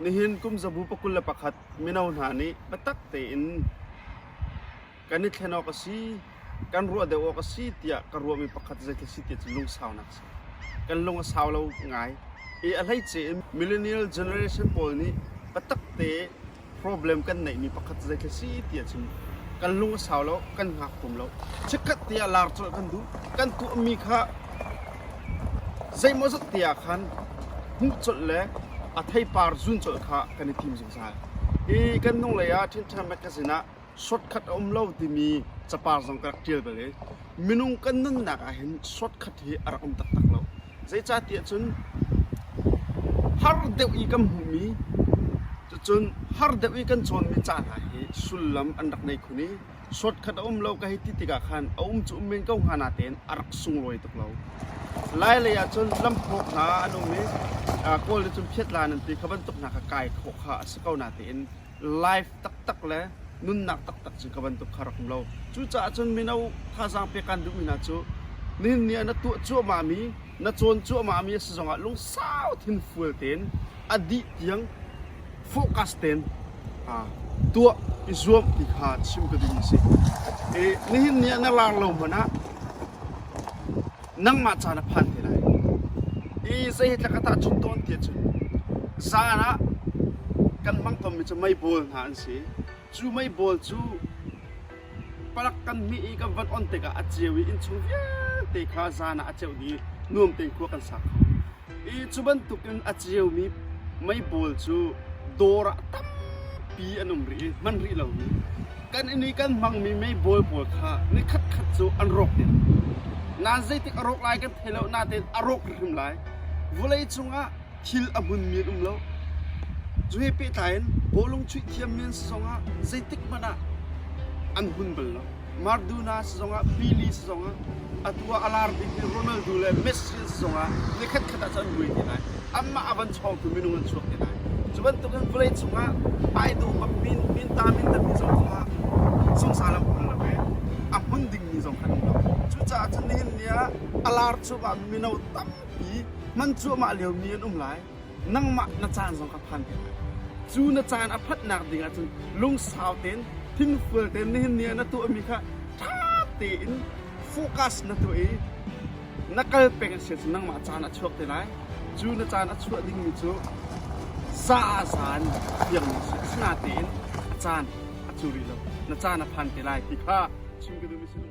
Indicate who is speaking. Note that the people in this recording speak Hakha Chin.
Speaker 1: Nihin kum zabu pakul le pakhat mino hna nih biatak tein kan i thlen awk a si, kan ruah deuh awk a si tiah ka ruahmi pakhat zeithil si ti cu lungsaunak a si. Kan lung a sau lo ngai. I a hleice in millennial generation pawl nih biatak te problem kan neihmi pakhat zeitlai si ti a chim. Kan lung a sau lo, kan hngak hum lo. Chikkhat te ah lar colh kan duh. Kan tuahmi kha zeimawzat te ah khan hmuh colh le a theipar zun colh kha kan i tim zungzal. Hi kan hnulei ah Ṭhinṭhan Magazine ah shortcut a um lo timi capar zong ka rak tial bal i minung kan nunnak ah hin shortcut hi a rak um taktak lo zeicahtiah cun har deuh i kan hmuhmi cun har deuh i kan cawnmi ca hna hi sullam an rak nei khun i shortcut a um lo ka hei ti tikah khan a um cu um men ko hnga na tein a rak sunglawi tuk lo lai lei ah cun lamphawk hna an um i kawl le cun phiatla nan ti kha bantuk hna kha kai khawh kha a si ko na tein life taktak le nunnak taktak cu ka bantuk kha rak um lo. Cucaah cun mino thazaang pe kan duhmi hna cu nihin ni ah na tuah cuahmahmi, na cawn cuahmahmi a si zongah lungsau thinfual tein, a dih tiang focus tein tuah i zuam ti kha chim ka duhmi a si. Nihin ni ah na lar lo hmanh ah nangmah caan a phan te lai i zeihtlak a tahchun tawn ti cun zaan ah kan hmang tonmi cu meibawl hna an si cu meibawl cu palak kan hmih i kan van on tikah a ceu i innchung vialte kha zaan ah a ceuh i nuam tein khua kan sa kho Hi cu bantukin a ceumi meipawl cu dawr ah tampi an um rih i hman rih lomi kan inn i kan hmangmi meipawl pawl kha nikhatkhat cu an rawk ding. Nan zeitik a rawk lai kan thei lo nain a rawk hrim lai. Vawlei cungah thil a hmunmi an um lo. Cu he pehtlai in bawlung chuih thiammi an si zongah zeitik hmanh ah an hmun bal lo. Maradona sizongah Pili sizongah atu ah a lar bikmi Ronaldo le Messi an sizongah ni khatkhat ah cu an buai te lai. Anmah a van chawngtu minung an chuak te lai. Cu bantuk in vawlei chungah ai do bak min, minta mintatmi zong kha sungsang lengmang an lo i a hmun dingmi zong kha an um lo. Cucaah cu nihin ni ah a lar cuahmah mino tampi hman cuahmah liomi an um lai. nangmah na caan zong kha phan te lai. Cu na caan a phatnak ding ah cun lungsau tein, thingful tein nihin ni ah na tuahmi kha ṭha tein focus na tuah i na kal peng a si cun nangmah caan a chuak te lai. Cu na caan a chuah dingmi cu za'azan tiangmi a si. Asinatein caan a cu rih lo. Na caan a phan te lai ti kha chim ka duhmi si lo.